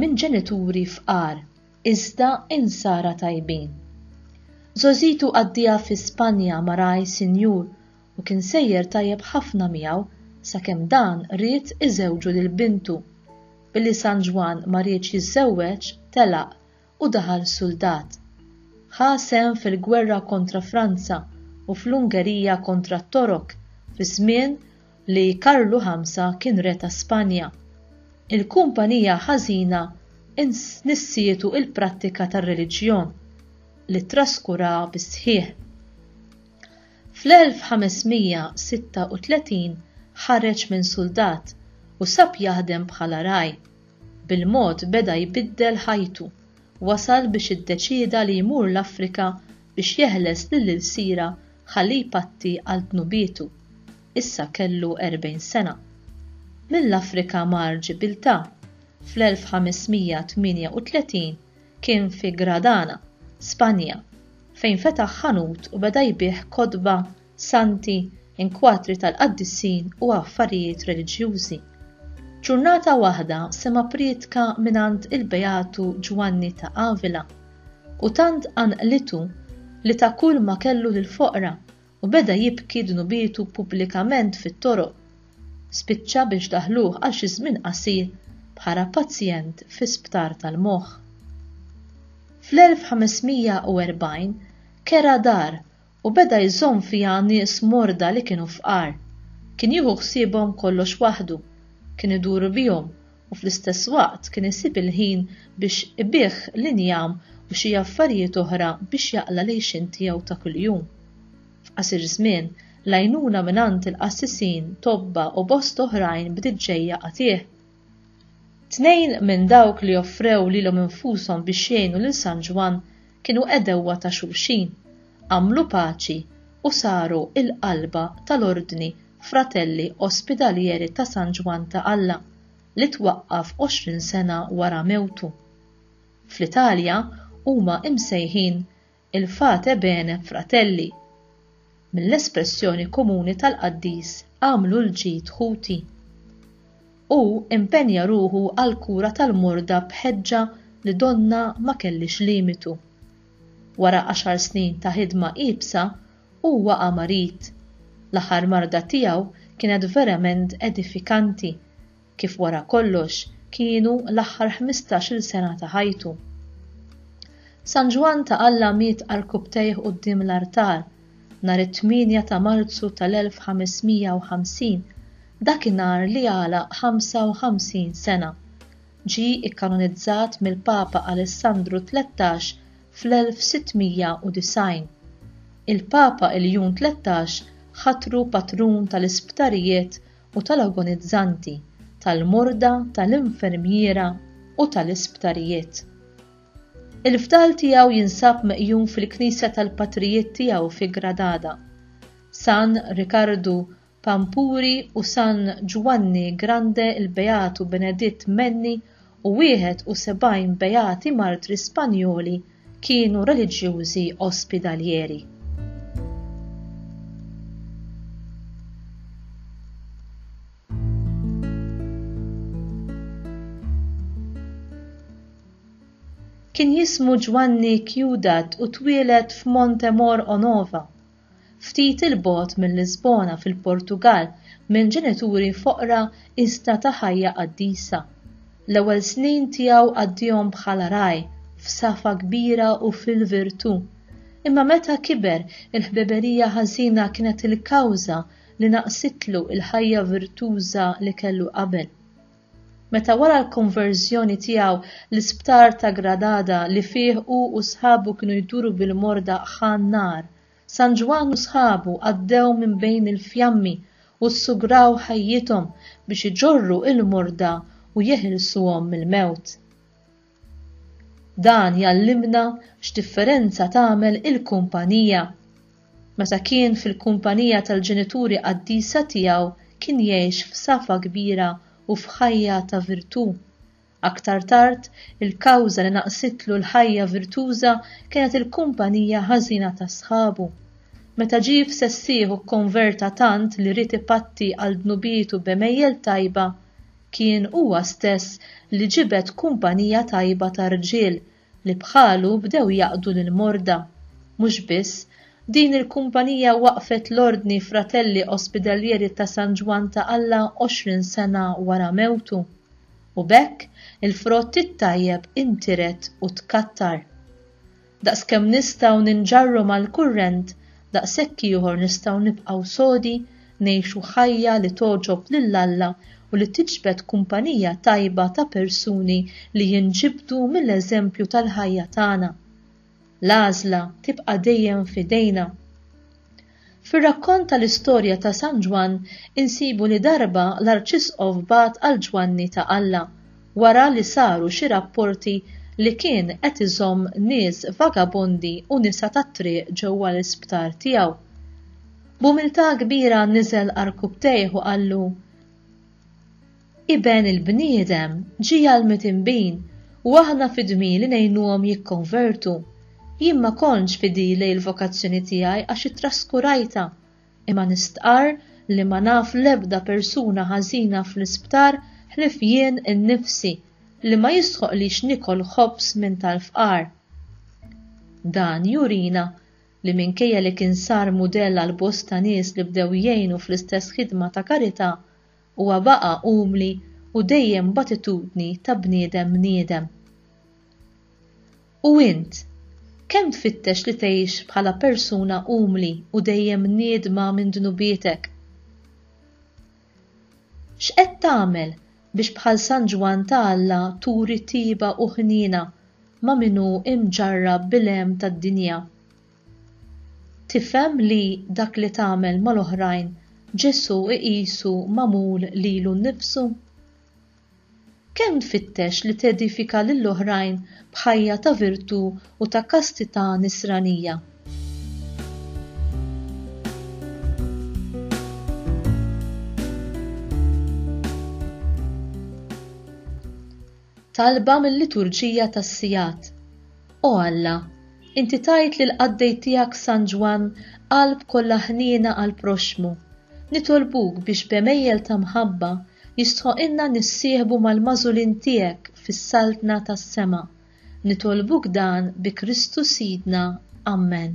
minn ġenituri fqar iżda Insara tajbin. Żgħożitu qaddieha fi Spanja ma' ragħaj sinjur u kien sejjer tajjeb ħafna miegħu sakemm dan ried iżewġu lil bintu. Billi San Ġwann ma riedx jiżżewweġ telaq u daħal suldat. Ħa sehem fil-gwerra kontra Franza u fl-Ungerija kontra t-Torok fi żmien li Karlu Ħamsa kien re ta' Spanja. Il-kumpanija ħażina nissietu il-prattika tar-reliġjon, li ttraskuraha bis-sħiħ. Fl-1536 ħareġ minn suldat u sab jaħdem bħala ragħaj. Bil-mod beda jbiddel ħajtu. Wasal biex iddeċieda li jmur l-Afrika biex jeħles lil ilsira ħalli jpatti għal dnubietu. Issa kellu 40 sena. Mill-Afrika mar Ġibiltà. Fl-1538 kien fi Gradana, Spanja, fejn fetaħ ħanut u beda jbigħ kotba santi, inkwatri tal-qaddisin u affarijiet reliġjużi. Ġurnata waħda sema' prietka mingħand il-Beatu Ġwanni ta' Avila, u tant qanqlitu li ta kull ma kellu lill-foqra u beda jibki dnubietu pubblikament fit-toroq. Spiċċa biex daħluh għal xi żmien qasir bħala pazjent fi sptar tal-moħħ. Fl-1540 kera dar U beda jżomm fiha nies morda li kienu fqar. Kien jieħu ħsiebhom kollox waħdu. Kien idur bihom u fl-istess waqt kien isib il-ħin biex ibigħ l-injam u xi affarijiet oħra biex jaqla' l-għixien tiegħu ta' kuljum. F'qasir żmien, l-għajnuna mingħand il-qassisin, tobba u bost oħrajn bdiet ġejja għatih. Tnejn minn dawk li offrew lilhom infushom biex jgħinu lil San Ġwann kienu għedewwa ta' xulxin, għamlu paċi u saru l-qalba tal-Ordni Fratelli Ospidalieri ta' San Ġwann ta' Alla li twaqqaf għoxrin sena wara mewtu. Fl-Italja huma imsejħin il-Fate Bene Fratelli, mill-espressjoni komuni tal-qaddis agħmlu l-ġid ħuti. Hu impenja ruħu għall-kura tal-morda b'ħeġġa li donnha ma kellhiex limitu. Wara għaxar snin ta' ħidma iebsa, hu waqa' marid. L-aħħar marda tiegħu kienet verament edifikanti. kif wara kollox kienu l-aħħar ħmistax-il sena ta' ħajtu. San Ġwann ta' Alla miet għarkupptejh quddiem l-artal nhar it-8 ta' Marzu tal-1550, dakinhar li għalaq 55 sena. Ġie ikkanonizzat mill-Papa Alessandru Tlettax fl-1690. Il-Papa Iljun Tlettax ħatru patrun tal-isptarijiet u tal-agonizzanti, tal-morda, tal-infermiera u tal-isptarijiet. Il-fdal tiegħu jinsab meqjum fil-knisja tal-patrijiet tiegħu fi Gradada. San Rikardu Pampuri u San Ġwanni Grande il-Beatu Beneditt Menni u 71 beati martri Spanjoli kienu reliġjużi Ospidaljeri. Kien jismu Ġwanni Ciudat u twieled f'Montemor Onova, ftit 'il bogħod minn Lisbona fil-Portugall minn ġenituri foqra iżda ta' ħajja qaddisa. L-ewwel snin tiegħu qaddihom bħala ragħaj, f'safa kbira u fil-virtù. Imma meta kiber, il-ħbiberija ħażina kienet il-kawża li naqsitlu l-ħajja virtuża li kellu qabel. Meta wara l-konverżjoni tiegħu, l-isptar ta' Gradada li fih hu u sħabu kienu jduru bil-morda ħa n-nar, San Ġwann u sħabu għaddew minn bejn il-fjammi u ssugraw ħajjithom biex iġorru l-morda u jeħilsuhom mill-mewt. Dan jgħallimna x'differenza tagħmel il-kumpanija. Meta kien fil-kumpanija tal-ġenituri qaddisa tiegħu kien jgħix f'safa kbira u f'ħajja ta' virtù. Aktar tard, il-kawża li naqqsitlu l-ħajja virtuża kienet il-kumpanija ħażina ta' sħabu. Meta ġie f'sessieħu kkonverta tant li ried ipatti għal dnubietu b'għemejjel tajba, Kien huwa stess li ġibed kumpanija tajba ta' rġiel li bħalu bdew jaqdu lill-morda. Mhux biss, din il-kumpanija waqqfet l-Ordni Fratelli Ospidalieri ta' San Ġwann ta' Alla għoxrin sena wara mewtu. U b'hekk il-frott it-tajjeb intiret u tkattar. Daqskemm nistgħu ninġarru mal-kurrent, daqshekk ieħor nistgħu nibqgħu sodi, ngħixu ħajja li togħġob lil Alla u li tiġbed kumpanija tajba ta' persuni li jinġibdu mill-eżempju tal-ħajja tagħna. L-għażla tibqa' dejjem f'idejna. Fir-rakkont tal-istorja ta' San Ġwann insibu li darba l-Arċisqof bagħat għal Ġwanni ta' Alla wara li saru xi rapporti li kien qed iżomm nies vagabondi u nisa tat-triq ġewwa l-isptar tiegħu. B'umiltà kbira niżel għarkupptejh u qallu, Iben il-bniedem ġie għall-mitnbin u aħna fi dmir li ngħinuhom jikkonvertu. Jien ma kontx fidili l-vokazzjoni tiegħi għax ittraskurajtha, imma nistqarr li ma naf l-ebda persuna ħażina fl-isptar ħlief jien innifsi li ma jistħoqqlix nikol ħobż minn tal-fqar. Dan jurina li minkejja li kien sar mudell għal bosta nies li bdew jgħinu fl-istess ħidma ta' karità, Huwa baqa' umli u dejjem b'attitudni ta' bniedem bniedem. U int, kemm tfittex li tgħix bħala persuna umli u dejjem mniedma minn dnubietek? X'qed tagħmel biex bħal San Ġwann ta' Alla turi tiba u ħniena ma' min hu mġarrab bil-għem tad-dinja? Tifhem li dak li tagħmel mal-oħrajn Ġesù iqisu magħmul lilu nnifsu? Kemm tfittex li tedifika lill-oħrajn b'ħajja ta' virtù u ta' kastità Nisranija? talba mil-Liturġija tas-Sigħat, O Alla, Inti tajt lill-qaddej tiegħek San Ġwann qalb kollha ħniena għall-proxxmu, nitolbuk biex b'għemejjel ta' mħabba jistħoqilna nissieħbu mal-magħżulin tiegħek fis-Saltna tas-sema. Nitolbuk dan bi Kristu Sidna. Ammen.